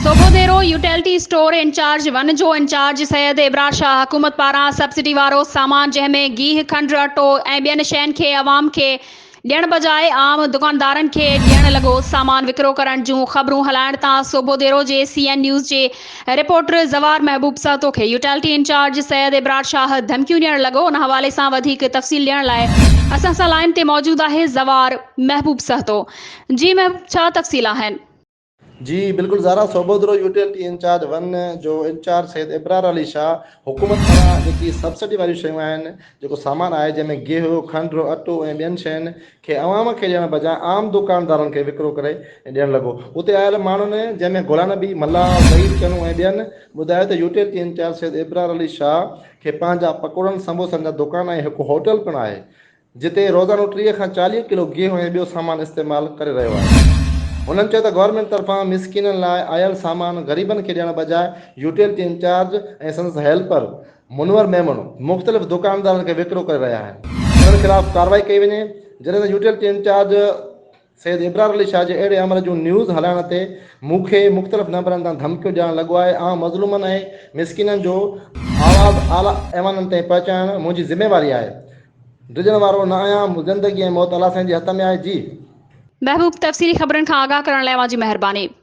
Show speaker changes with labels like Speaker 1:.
Speaker 1: سوگوديرو utility store in charge one جو in charge Syed Abrar Shah حڪومت پاران سبسڊي وارو سامان جنهن ۾ گيهه کنڊ اٽو ۽ ٻين شين کي عوام کي ڏيڻ بجاء عام دڪاندارن کي ڏيڻ لڳو سامان وڪرو ڪرڻ جون خبرون هلائڻ تان سوگوديرو جي سي اين نيوز جي رپورٽر زوار محبوب سهتو کي يوٽيلٽي انچارج سيد ابرار شاهه ڌمڪيون ڏيڻ لڳو ان حوالي سان وڌيڪ تفصيل ڏيڻ لاء اسان سان لائين تي موجود آهي زوار محبوب سهتو جي محبوب ڇا تفصيل آهن. جي
Speaker 2: بلڪل زارا سوڀودرو يوٽيلٽي انچارج ون جو انچارج سيد ابرار علي شاھ حڪومت پاران جيڪي سبسڊي واريون شيون آهن جيڪو سامان آهي جنهن ۾ گيهو کنڊ اٽو ۽ ٻين شين کي عوام کي ڏيڻ بجاء عام دوڪاندارن کي وڪرو ڪري ڏيڻ لڳو اتي آيل ماڻهن جنهن ۾ گولا نبي ملاح زهير چنو ۽ ٻين ٻڌايو ته يوٽيلٽي انچارج سيد ابرار علي شاھ کي پنهنجا پڪوڙن سموسن جا دوڪان ۽ هڪ هوٽل پڻ آهي جتي روزانو ٽيهه کان چاليهه ڪلو گيهون ۽ ٻيو سامان استعمال ڪري رهيو آهي. هنن چيو ته گورنمينٽ طرفان مسڪينن لاء آيل سامان غريبن کي ڏيڻ بجاء يوٽيلٽي انچارج ۽ سندس هيلپر منور ميمڻ مختلف دڪاندارن کي وڪرو ڪري رهيا آهن، انهن خلاف ڪارروائي ڪئي وڃي، جڏهن ته يوٽيلٽي انچارج. سيد ابرار علي شاهه جي اهڙي امر جون نيوز هلائڻ تي مون کي مختلف نمبرن تان ڌمڪيون ڏيڻ لڳو آهي آئون مظلومن ۽ مسڪينن جو آواز اعليٰ ايوانن تائين پهچائڻ منهنجي ذميواري آهي ڊڄڻ وارو نه آهيان زندگي ۽ موت الله سائين جي
Speaker 1: هٿ
Speaker 2: ۾ آهي
Speaker 1: جي
Speaker 2: محبوب تفصيلي
Speaker 1: خبرن
Speaker 2: کان
Speaker 1: آگاهه
Speaker 2: ڪرڻ لاء
Speaker 1: اوهان
Speaker 2: جي
Speaker 1: مهرباني.